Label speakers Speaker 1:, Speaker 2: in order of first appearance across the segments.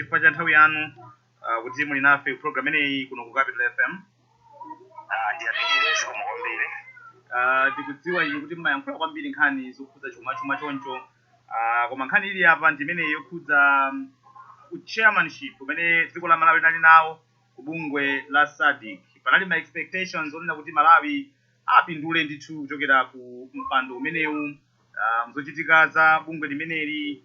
Speaker 1: chifukwa cha nthawi yanu uh, kuti muli nafe program imeneyi kuno ku capital fm Ah, ndiyamikire
Speaker 2: zikomo kwambiri uh,
Speaker 1: tikudziwa inu kuti mmayankhula kwambiri nkhani zokhudza chuma chuma choncho uh, koma nkhani ili apa ndi imene yokhudza um, chairmanship umene dziko la malawi linali nawo ku bungwe la sadic panali ma expectations onena kuti malawi apindule ndithu kuchokera ku mpando umenewu uh, mzochitika za bungwe limeneli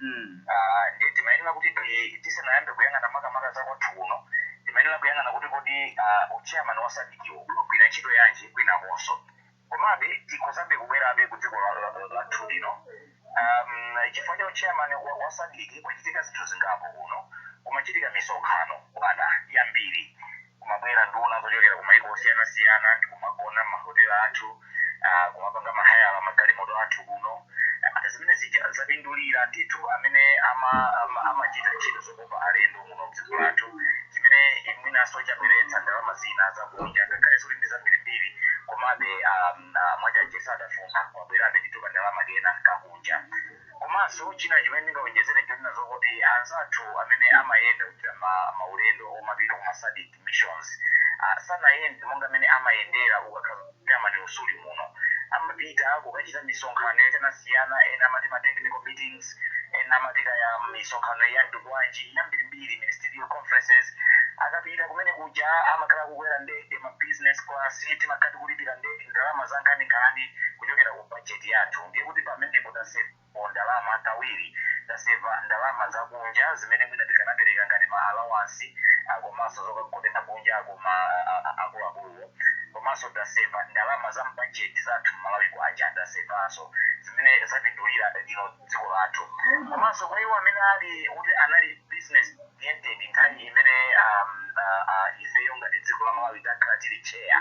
Speaker 2: mm. Ah, ndiye timayenera kuti ti- tisanayambe kuyang'ana makamaka za kwathu kuno timayenera kuyang'ana kuti kodi ah, uchairman wa sadikiwo umagwira ntchito yanji kwinakonso komabe tikhozabe kubwerabe ku dziko la- la- la- lathu lino um, chifukwa cha uchairman wa, wa sadiki kwachitika zinthu zingapo kuno kumachitika misonkhano bwana yambiri kumabwera nduna zochokera ku maiko osiyanasiyana ndikumagona mahotela athu ah, kumapanga mahayala magalimoto athu kuno Ah, zimene zija zapindulira ndithu amene ama- ama- amachita ntchito zokopa alendo muno mdziko lathu chimene mwinanso chabweretsa ndalama zina zakunja ngakhale zoti ndi zambirimbiri komabe ah, ah, mwachache sadafuna kwabwerabe ndithu kandalama kena kakunja Komanso china chimene ndingawonjezere chonena zokuti anzathu amene amayenda kuchita ma, maulendo omapita kuma sadc missions ah, sanayende monga mmene amayendera ukakhala mmene amati mu suli muno. Amapita kukachita misonkhano yosiyanasiyana, ena amati ma technical meetings, ena amati kaya misonkhano ya nduna bwanji yambirimbiri, ministerial conferences. Akapita kumene kuja amakhala akukwera ndege ma business class, timakhala tikulipira ndege, ndalama zankhaninkhani kuchokera ku. budget yathu ndiye kuti pamenepo tasevapo ndalama kawiri taseva ndalama zakunja zimene mwina tikanapereka ngati ma allowance ah, komanso zokagonera kunjako ma ah, ah, akuluakuluwo komanso taseva ndalama za mbajeti zathu mmalawi kwacha tasevanso zimene zapindulira you know, dziko lathu komanso kwa iwo amene ali kuti anali business oriented nthawi imene um, uh, uh, ifeyo ngati dziko la malawi takhala tili chair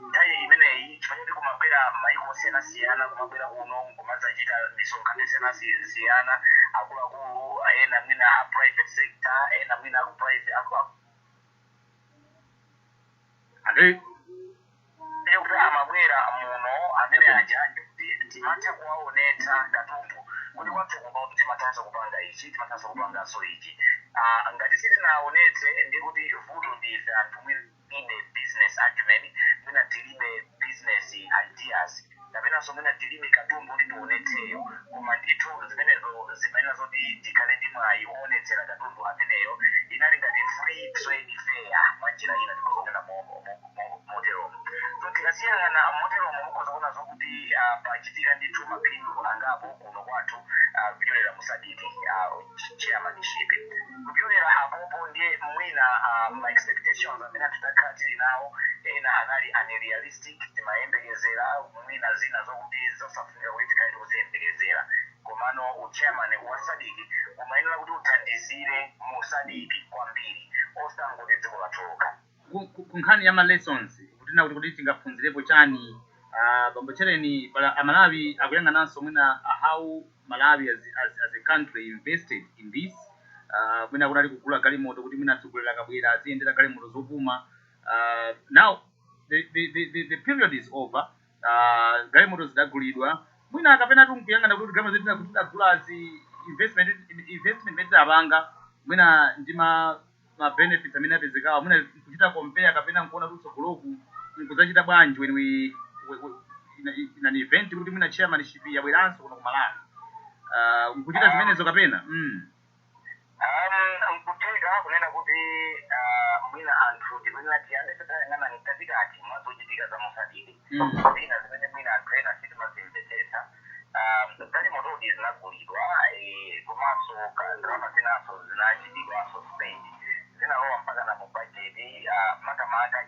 Speaker 2: nthawi imeneyi chifukwa choti kumabwera maiko osiyanasiyana kumabwera kuno kumadzachita misonkhano yosiyanasiyana akuluakulu ena mwina a private sector ena mwina aku private aku, aku, ande ndiye kuti akamabwera muno amene aja ndikuti timatha kuwaonetsa katundu kuti kwathu kuno timathanso kupanga ichi timathanso kupanganso ichi Ah, ngati sitinaonetse ndi kuti vuto ndi ife anthu mwina tilibe business acumen mwina tilibe business ideas kapenanso mwina tilibe katundu oti tionetseyo koma ndithu zimenezo zimayenera zoti tikhale ndi mwayi oonetsera katundu ameneyo inali ngati free trade fair mwa njira ina tikhoza kunena mo- mo- mo- moteromo so tikasiyang'ana moteromo mukhoza kuona zokuti ah, pachitika ndithu maphindu angapo kuno kwathu ah, kupyolera mu SADC chairmanship kupyolera apopo ndiye mwina ah, ma expectations amene takhala tili nawo ena anali unrealistic think timayembekezera mwina zina zokuti zosafunika kuti tikhale tikuziyembekezera komano uchairman wa SADC umayenera kuti uthandizire mu SADC kwambiri osangoti dziko lathu lokha ku ku- ku nkhani
Speaker 1: ya ma lessons kutina kuti kuti tingaphunzirepo chani ah, bambo Chereni Malawi akuyang'ananso mwina ah, how malawi as, as, as a country invested in this ah, mwina kunali kugula galimoto kuti mwina atsogoleri akabwera aziyendera galimoto zopuma Ah, now the, the, the, the, the period is over uh, galimoto zidagulidwa mwina kapena nkuyang'ana kuti galimoto zija kuti tidagulazi investment investment imene tidapanga mwina ndi ma ma benefits amene apezekawa mwina kuchita compare kapena nkuona kuti tsogoloku nkudzachita bwanji when we, we, we in, a- in an event kuti mwina chairmanship yabweranso kuno ku Malawi uh, nkuchita zimenezo kapena mm.
Speaker 2: Um, nkutheka kunena kuti uh, mwina anthu tikuyenera tiyambe titayang'ana mkatikati mwa zochitika za mu SADC Mm. zina zimene mwina anthu ena sitimazimvetsetsa um, galimotodi zinagulidwa eh, komanso ka- ndalama zinanso zinachitidwanso spend zinalowa mpaka na mu bajeti uh, makamaka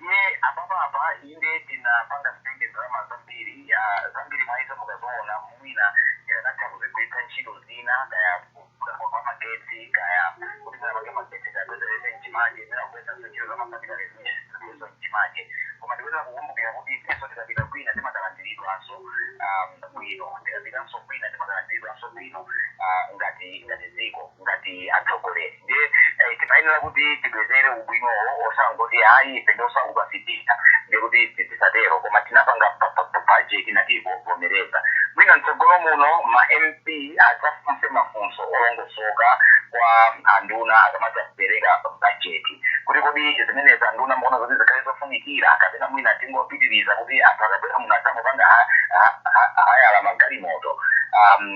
Speaker 2: Ndiye apapa apa inde tinapanga spend ndalama zambiri ah, zambiri mwa izo mukaziona mwina tikanatha kuzigwiritsa ntchito zina kaya kuthako kwa magetsi kaya kuti mwina pange magetsi tapezerese mchimache mwina kugwiritsa ntchito za mafatikaleso mchimache koma ndikuyenera kukumbukira kuti ifenso tikapita kwina timakalandiridwanso ah, bwino tikapitanso kwina timakalandiridwanso bwino ah, ngati ngati dziko ngati atsogoleri ndiye eh, timayenera kuti tibwezere ubwinowo osangoti ayi ife ndosauka sititha ndiye kuti ti- tisatero koma tinapanga pa- pa- pa- bajeti natiivomereza mwina mtsogolo muno ma MP adzafunse mafunso olongosoka kwa anduna akamadzapereka bajeti kuti kodi zimenezi anduna muona kuti zikhale zofunikira kapena mwina tingopitiriza kuti anthu akabwera muno adzangopanga ha- ha- ha- hayala magalimoto um,